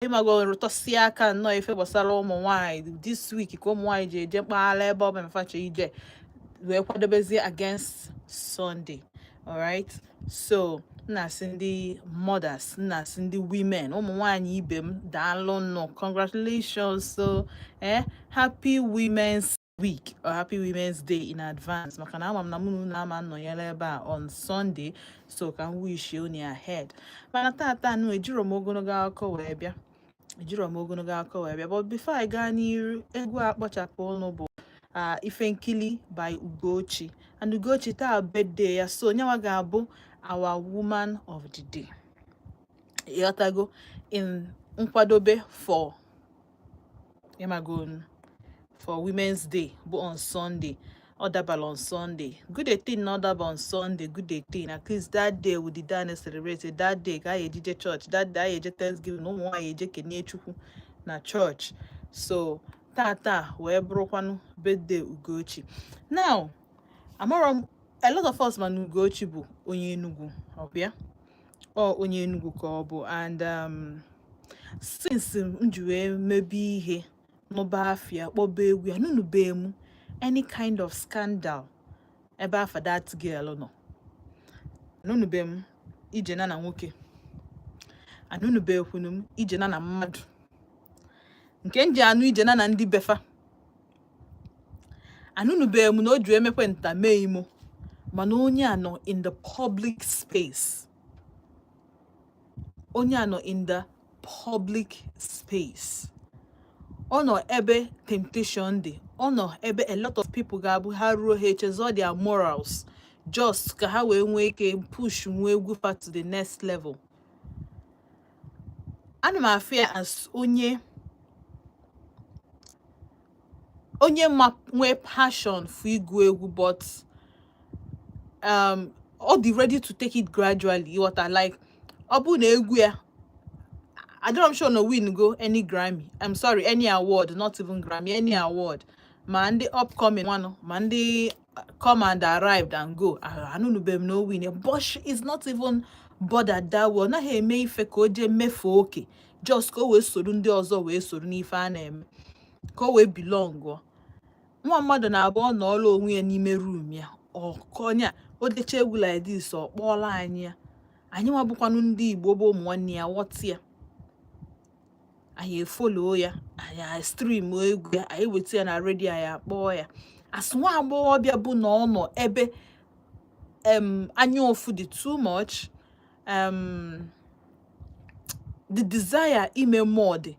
ịmago rụtụsịa aka nnọọ ife gbasara ụmụ nwaanyị this week ka ụmụ nwaanyị ji eje mkpaghalị ebe ọ bụna fa chọ ije wee kwadobezie against Sunday alright so m na-asị ndị mothers m na-asị ndị women ụmụ nwaanyị ibe m daalụ nụ congratulations so eh happy women's week or happy women's day in advance maka na ama m na mụ nwa ama nọnyere ebe a on sunday so ka m wish unu ahead mana tata nụ ejiro m ogologo akụkọ wee bịa ejiro m ogologo akụkọ wee bịa but before I gaa n'iru egwu a kpọchapụ ọnụ bụ ife nkili by ugochi and ugochi taa birthday ya so nya nwa ga-abụ our woman of the day ịghọtago in nkwadobe for ịmago for women's day bụ on sunday ọ dabara on sunday good a thing na ọ daba on sunday good a thing at least that day we did dine celebrate that day ka anyị ji eje church that day anyị eje thanksgiving na ụmụ nwaanyị eje kenee chukwu na church so tata wee bụrụkwanụ birthday ugochi now amara m a lot of us ma na ugochi bụ onye enugwu ọbịa ọ onye Enugu ka ọ bụ and um, since m ji wee mebe ihe n'ụba afia kpọba egwu ya anụnụbe m any kind of scandal ebe afa that girl nọ anụnụbe m ije nya na nwoke anụnụbekwanụ m ije nya na mmadụ nke m ji anụ ije nya na ndị be fa anụnụbeghị m na o ji emekwe nta mee imo mana onye a nọ in the public space onye a nọ in the public space ọ nọ ebe temptation dị ọ nọ ebe a lot of people ga-abụ ha ruo ha echezọ their morals just ka ha wee nwee ike push nwee egwu fa to the next level ana m afụ ya as onye onye ma nwee passion for ịgụ egwu but um, ọ dị ready to take it gradually ịghọta like ọ bụ na egwu ya adịrọ m sure na o win go any Grammy I'm sorry any award not even Grammy any award ma ndị upcoming one ma ndị come and arrived and go anụnụbe m na o win but she is not even bothered that way ọ naghị eme ife ka o jee mefee oke just ka o wee soro ndị ọzọ wee soro n'ife a na-eme ka o wee belong nwa mmadụ na-abụ ọ nọọlụ onwe ya n'ime room ya ọkọnya o decha egwu like this ọ kpọọlụ anyị ya anyị nwa bụkwanụ ndị igbo bụ ụmụ nwanne ya ghọta ya anyị efollow ya anyị stream egwu ya anyị weta ya na radio anyị akpọọ ya as nwa agbọghọbịa bụ na ọ nọ ebe anya ụfụ dị too much um, the desire ime more dị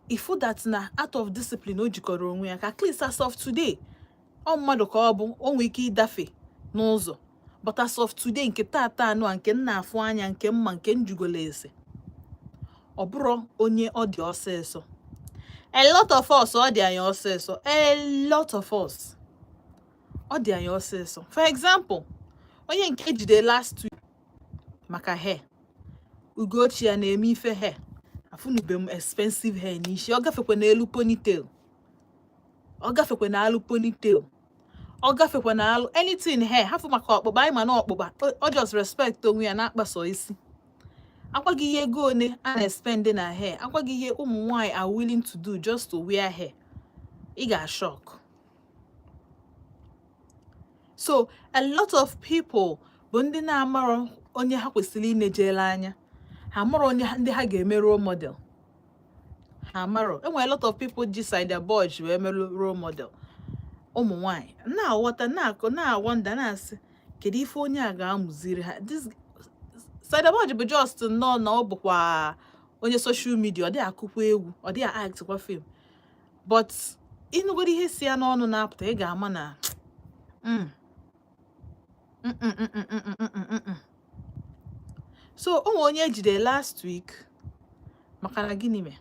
ị fụ that na out of discipline o jikọrọ onwe ya ka at least as of today ọ mmadụ ka ọ bụ o nwee ike ịdafe n'ụzọ but as of today nke tata anụ a nke m na-afụ anya nke m ma nke m jụgolo ese ọ bụrọ onye ọ dị ọsịsọ a lot of us ọ dị anyị ọsịsọ a lot of us ọ dị anyị ọsịsọ for example onye nke e jide last week maka hair ugochi a na-eme ife hair afụnube m expensive hair n'isi ọ gafekwa n'elu ponytail ọ gafekwa na alụ ponytail ọ gafekwa na alụ anything hair hafụ maka ọkpụkpa anyị ma na ọkpụkpa ọ just respect onwe ya na-akpa sọ isi a gwa gị ihe ego one a na-espend na hair a gwa gị ihe ụmụ nwanyị are willing to do just to wear hair ị ga-ashock so a lot of people bụ ndị na-amarọ onye ha kwesịrị inejere anya ha marọ onye ndị ha ga-eme role model ha marọ e nwere lot of people ji saida boj wee merụ role model ụmụ nwanyị na-aghọta na-awonder na-asị kedu ife onye a ga-amụziri ha saida boj bụ just nnọọ na ọ bụkwa onye social media ọ dị akụkwa egwu ọ dị actkwa film but ị nụgoro ihe si ya n'ọnụ na-apụta ị ga-ama na mm, so o nwe onye e jide last week maka na gịnị mee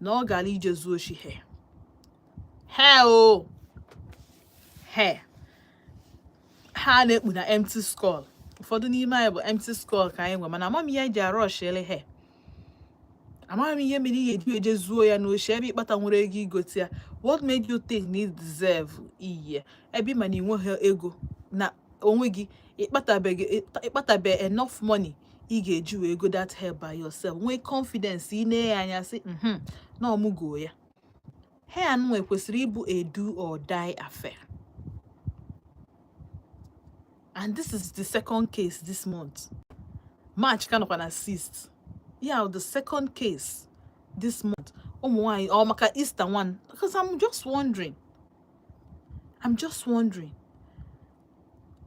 na ọ gara ije zuo oshi hair hair o hair ha na-ekpu na empty skull ụfọdụ n'ime anyị bụ empty skull ka anyị nwe mana ama m ihe e ji arushiri hair amaghị m ihe mere ị ga-eji eje zuo ya n'oshi ebe ị kpatanwurọ ego igote ya what made you think na deserve iyi ebe ị ma na ị nweghị ego na onwe gị ị kpatabeghị enough money ị ga-eji wee goo that hair by yourself nwee confidence ine ya anya sị mhm, na ọ mụ go ya hair nwa ekwesịrị ịbụ a do or die affair and this is the second case this month march ka nọkwa na 6th yeah the second case this month ụmụ nwanyị ọ maka easter one because i'm just wondering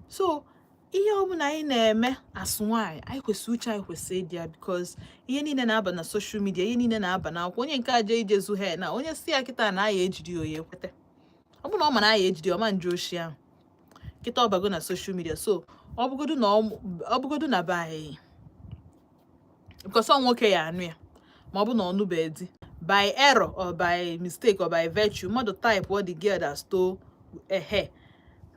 so ihe ọbụla anyị na-eme as nwaanyị anyị kwesịrị uche anyị kwesịrị ịdị ya because ihe niile na-aba na social media ihe niile na-aba na akwụkwọ onye nke a je ije zu hair na onye sị ya kịta na a ya-ejide ya ọ ya-ekweta ọ bụrụ na ọ ma na a ya-ejide ya ọ ma nje oshi ahụ kịta ọ bago na social media so ọ bụgodu na ọ bụgodu na be anyị because ọ nwoke ya-anụ ya ma ọ bụ na ọ nụbee di by error or by mistake or by virtue mmadụ type what the girl that stole her hair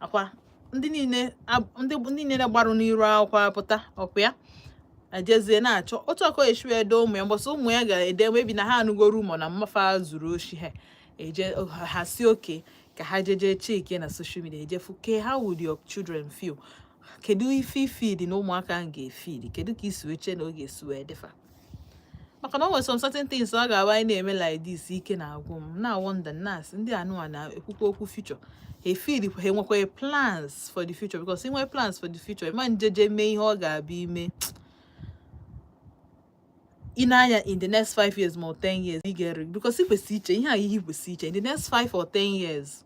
akwa ndị niile ndị niile na-agbarụ n'iru akwụkwọ apụta ọkwa ya ajezie na-achọ otu ọ ga-esi wee dị ụmụ ya mbọsị ụmụ ya ga-ede maybe na ha anụgo rumour na mma fa zuru oshi ha eje ha sị okay ka ha jeje chekie na social media ejefu ke how would your children feel kedu ife i feel na ụmụaka ahụ ga-efeel kedu ka i si eche na ọ ga-esi wee dị fa maka na ọ nwere some certain things ọ ga-awa anyị na-eme like this ike na-agwụ m na wonder nas ndị anụwa na-ekwukwa okwu future ha efid ha enwekwa plans for the future because i nwee plans for the future ma njeje mee ihe ọ ga-abịa ime ị n'anya in the next 5 years ma 10 years you get it because ị kwesị iche ihe a ị kwesị iche in the next 5 or 10 years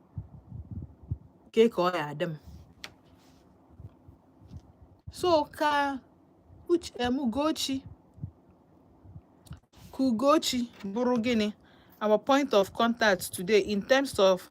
kee ka ọ ya-adị m so ka Ugochi ka Ugochi bụrụ gịnị our point of contact today in terms of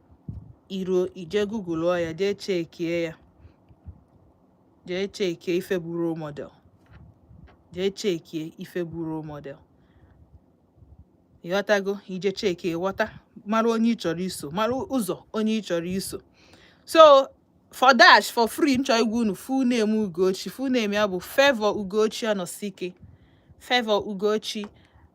i ruo i jee google ọ ya jee chekie ya jee chekie ife bụ role model jee chekie ife bụ role model ịghọtago i jee chekie ghọta mara onye ị chọrọ iso mara ụzọ onye ị chọrọ iso so for dash for free m chọ ịgwa unu full name ugochi full name ya bụ favour ugochi anọsike favour ugochi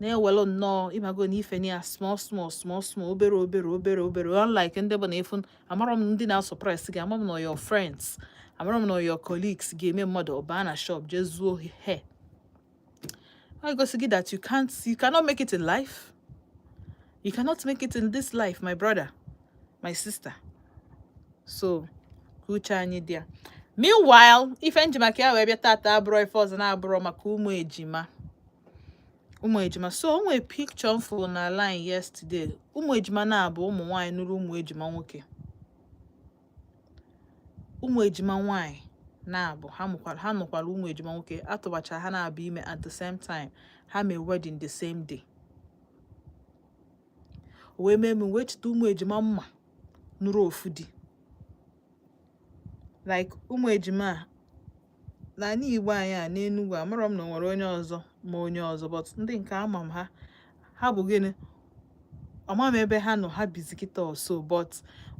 na-ewelụ nnọọ ịmago na ife ya small small small small obere obere obere obere unlike ndị bụ na efu amarọ m ndị na-asuppress gị amarọ m na your friends amarọ m na your colleagues ga-eme mmadụ ọ ba na shop jee zuo hair igosi gị that you can't you cannot make it in life you cannot make it in this life my brother my sister so ka uche anyị dị ya meanwhile ife m ji maka ya wee bịa tata abụrọ ife ọzọ na-abụrọ maka ụmụ ejima ụmụ ejima so o nwere picture m fụrụ na line yesterday ụmụ ejima naabụ ụmụ nwaanyị nụrụ ụmụ ejima nwoke ụmụ ejima nwaanyị naabụ ha mụkwara ha nụkwara ụmụ ejima nwoke a tụbacha ha naabụ ime at the same time ha mee wedding the same day wee mee m wee cheta ụmụ ejima m ma nụrụ ofu di like ụmụ ejima a n'anị igbo anyị a n'enugwu amarọ m na o nwere onye ọzọ ma onye ọzọ but ndị nke ama m ha ha bụ gịnị ama m ebe ha nọ ha bizi kịta or so but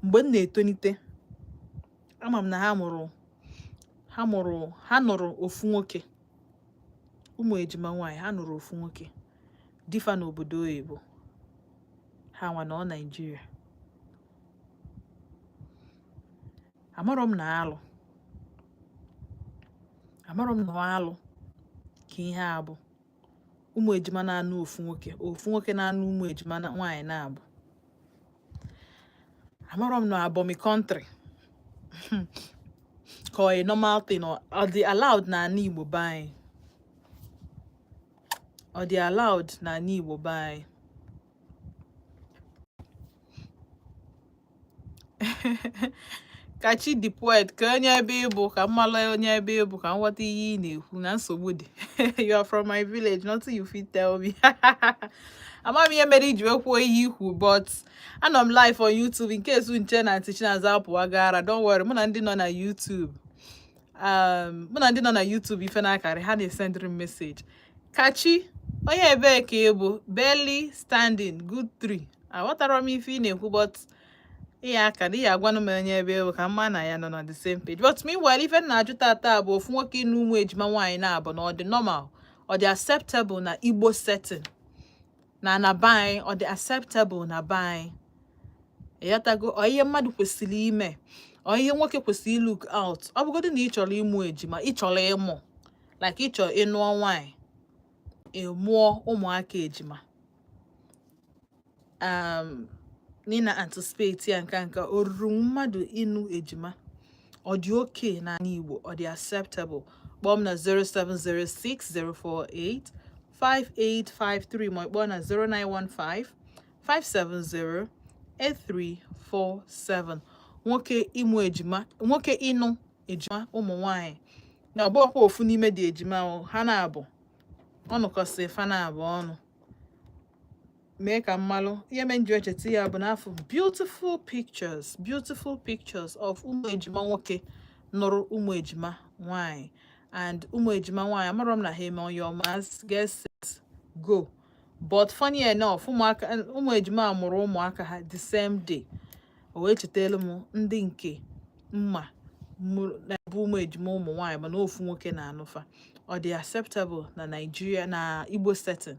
mgbe m na-etonite ama m na ha mụrụ ha mụrụ ha nụrụ ofu nwoke ụmụ ejima nwaanyị ha nụrụ ofu nwoke di fa n'obodo oyibo ha nwa nọ naijiria amarọ m na alụ amarọ m na alụ ka ihe a bụ ụmụ ejima na-anụ ofu nwoke ofu nwoke na-anụ ụmụ ejima nwaanyị naabọ amarọ m na abọmi country ka ọ normal thing ọ dị allowed na ana igbo be anyị ọ dị allowed na ana igbo be anyị Kachi the poet ka onye ebe ị bụ ka m malụ onye ebe ị bụ ka m ghọta ihe ị na-ekwu na nsogbu dị you are from my village nothing you fit tell me ama m ihe mere i ji wee kwuo ihe i kwu but anọ m live on YouTube in case unu chee na Aunty Chinaza apụwago ara don't worry mụ na ndị nọ na YouTube um, mụ na ndị nọ na YouTube ife na-akarị ha na-esendịrị m message Kachi onye ebee ka ị bụ barely standing good three aghọtara m ife ị na-ekwu but ị ya-aka na ị ya-agwanụ m onye ebe ị bụ ka m ma na anyị nọ na the same page but meanwhile ife m na-ajụ tata bụ ofu nwoke ịnụ ụmụ ejima nwaanyị naabọ na ọ dị normal ọ dị acceptable na Igbo setting na na be anyị ọ dị acceptable na be anyị ị ghọtago ọ ihe mmadụ kwesịrị ime ọ ihe nwoke kwesịrị look out ọ bụgodị na ị chọrọ ịmụ ejima ị chọrọ ịmụ like ị chọrọ ịnụọ nwaanyị ịmụọ ụmụaka ejima um, na ị na-anticipate ya nka nka o ruru mmadụ ịnụ ejima ọ dị okay na ana Igbo ọ dị acceptable kpọọ m na 0706048 5853 ma ị kpọọ na 0915 570 8347 nwoke ịmụ ejima nwoke ịnụ ejima ụmụ nwanyị na ọ bụrọkwa ofu n'ime ndị ejima ha naabọ ọ nụkọsị fa naabọ ọnụ mee ka m malụ ihe me m ji echeta ya bụ na afụ m beautiful pictures beautiful pictures of ụmụ ejima nwoke nụrụ ụmụ ejima nwanyị and ụmụ ejima nwanyị amarọ m na ha eme your marks get set go but funny enough ụmụaka ụmụ ejima a mụrụ ụmụaka ha the same day o wee chetelu m ndị nke m ma na-abụ ụmụ ejima ụmụ nwanyị mana ofu nwoke na-anụ fa ọ dị acceptable na Nigeria na Igbo setting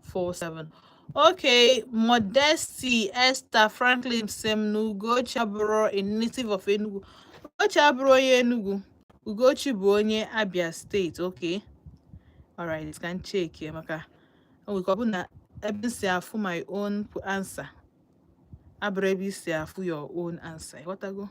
four seven. Okay, Modesty Esther Franklin sị m na Ugochi abụrọ a native of Enugu. Ugochi abụrọ onye Enugu. Ugochi bụ onye Abia State. Okay. All right, ka m checkie maka we go na ebe m si afụ my own answer. Abụrọ ebe i si afụ your own answer. Ị ghọtago?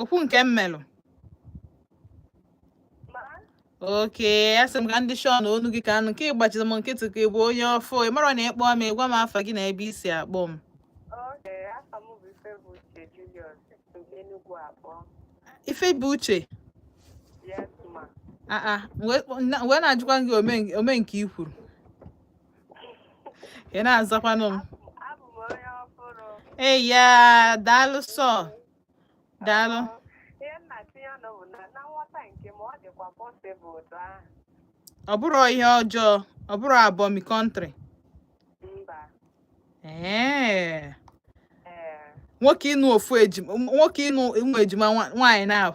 okwu nke m melụ okay asị m ka m dị sure na onu gị ka anụ nke ị gbachiri m nkịtị ka ị bụ onye ọfụụ ị mara na ị kpọọ m ị gwa m afa gị na ebe i si akpọ m Ifebuche wee na-ajụkwa gị ome nke i kwuru ị na-azakwanụ m ee ya daalụ sọ daalụ ọ bụrụ ihe ọjọọ ọ bụrụ abomi country ee nwoke ịnụ ofu ejima nwoke ịnụ ụmụ ejima nwaanyị na-ahụ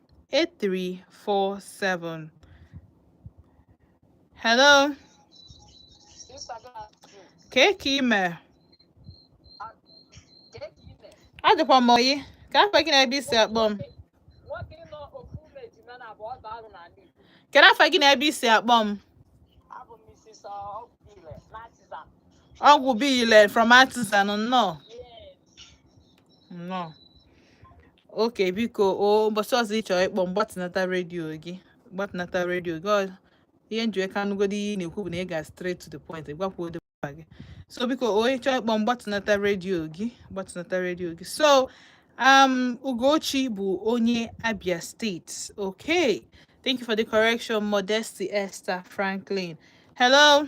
8347. Hello. Kee ka i me. Adịkwa m oyi. Kee afa gị na ebe i si akpọ m. Kedu afa gị na ebe i si akpọ m? Ọgwụ Bile from Artisan nnọọ. nnọọ okay biko o ụbọchị ọzọ ị chọrọ ịkpọ m gbatịnata redio gị gbatịnata redio gị ihe m ji wee ka anụgodo ihe ị na-ekwu bụ na ị ga straight to the point gwakwuo ụdị mkpa gị so biko onye chọọ ịkpọ m gbatịnata redio gị gbatịnata redio gị so um Ugochi bụ onye Abia State okay thank you for the correction Modesty Esther Franklin hello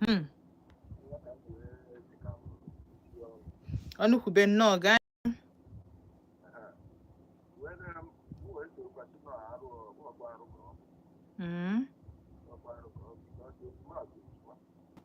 Hmm. Ọnụkwube nnọọ gaa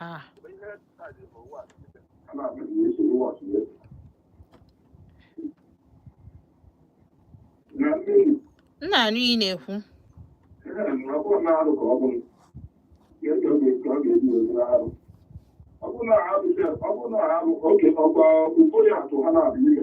Ah. m na-anụ ihe ị na-ekwu ọ bụrụ na ha bụ oke ọgba ụfọdụ atụ ha na-abụ ime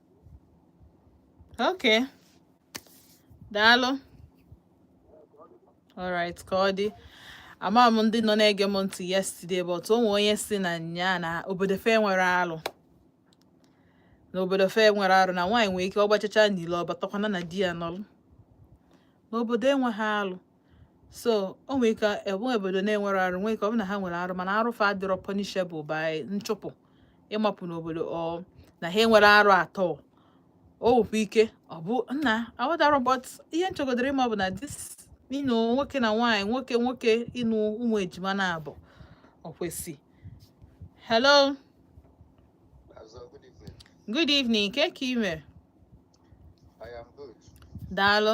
Okay. Daalụ. Alright, ka ọ dị. Ama m ndị nọ na-ege m ntị yesterday but o nwee onye sị na nya na obodo fa enwerọ alụ. Na obodo fa enwerọ alụ na nwaanyị nwere ike ọ gbachacha n'ilo ọ batakwana na di ya nọlụ. N'obodo enweghị alụ. so o nwere ike enwe obodo na-enwerọ arụ nwee ike ọ bụ na ha nwere arụ mana arụ fa adịrọ punishable by nchụpụ ịmapụ n'obodo or na ha enwerọ arụ at all o nwekwa ike ọ bụ na aghọtarọ but ihe m chọgodịrị ịma bụ na this ịnụ nwoke na nwaanyị nwoke nwoke ịnụ ụmụ ejima naabọ o kwesị hello good evening kee ka i me daalụ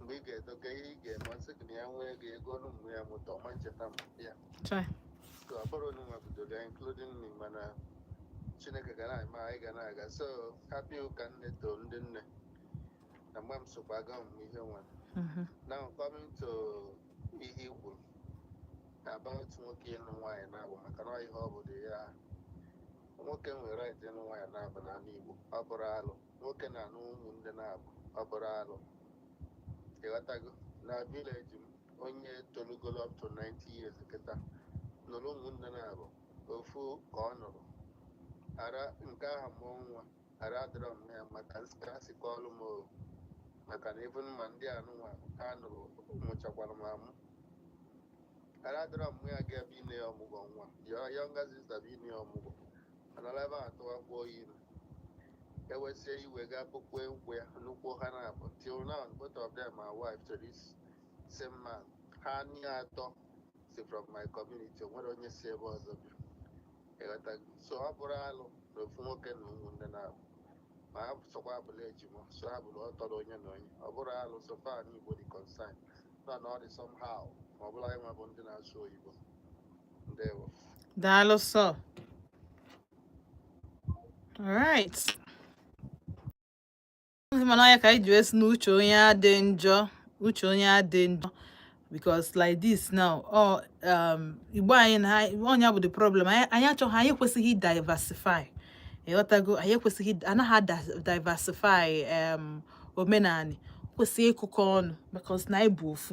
mgbe ị ga-edoga ihe ị ga-eme ọ sị gị na ya nwee ego ego ọnụ mgbe ya mụta ọma ncheta m ya Chai. so ọ bụrụ onye nwabidoga including me mana chineke ga na-eme anyị ga na-aga so happy ụka nne to ndị nne na mgbe m sokwa aga ọmụmụ ihe nwa Mhm. now coming to ihe i kwuru about nwoke ịnụ nwaanyị naabọ maka na ọ ihe ọ bụla ya nwoke nwere right ịnụ nwaanyị naabọ n'ala igbo ọ bụrọ alụ nwoke na-anụ ụmụnne naabọ ọ bụrọ alụ ịghọtago na village m onye tolugolo up to 90 years kịta nụrụ ụmụnne naabọ ofu ka ọ nụrụ ada nke ahụ mụọ nwa rather mum ya maka ka e si kọọlụ m o maka na even ma ndị anụnwa ha nụrụ mụchakwara m amụ rather mum ya ga-abịa ine ya ọmụgwọ nwa ya younger sister bịa ine ya ọmụgwọ a nọla ebe ahụ tụwakwuo ya ime e wesie iwe gaa bukwue nkwụ ya nụkwuo ha naabọ till now both of them are wife to this same man ha naatọ si from my community o nwerọ onye si ebe ọzọ bịa ịghọtago so ọ bụrọ alụ na ofu nwoke nụ ụmụnne naabọ ma ha sọkwa abụla ejima so ha bụrụ ọtọrọ onye na onye ọ bụrọ alụ so far n'igbo dị concerned nọ na ọ dị somehow ma ọ bụlụ anyị nwa bụ ndị na-asụ oyibo ndewo daalụ so all right mana ya ka anyị ji asị n'uche onye adị njọ uche onye adị njọ because like this now oh, um, igbo anyị na onye bụ the problem anyị achọghị anyị ekwesịghị diversify ịghọtago anyị ekwesịghị ịna-adiversify um, omenanị kwesị ịkụkọ ọnụ because na anyị bụ ofu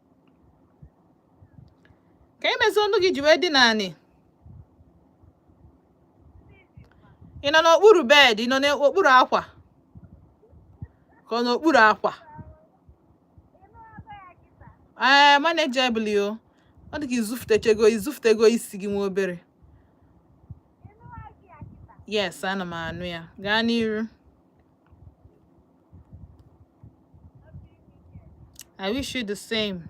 kee ihe mezie olu gị ji wee dị n'anị ị nọ n'okpuru bed ị nọ n'okpuru akwa ka ọ n'okpuru akwa ee manageable o ọ dị ka izufutechego izufutego isi gị nwa obere yes ana m anụ ya gaa n'iru I wish you the same.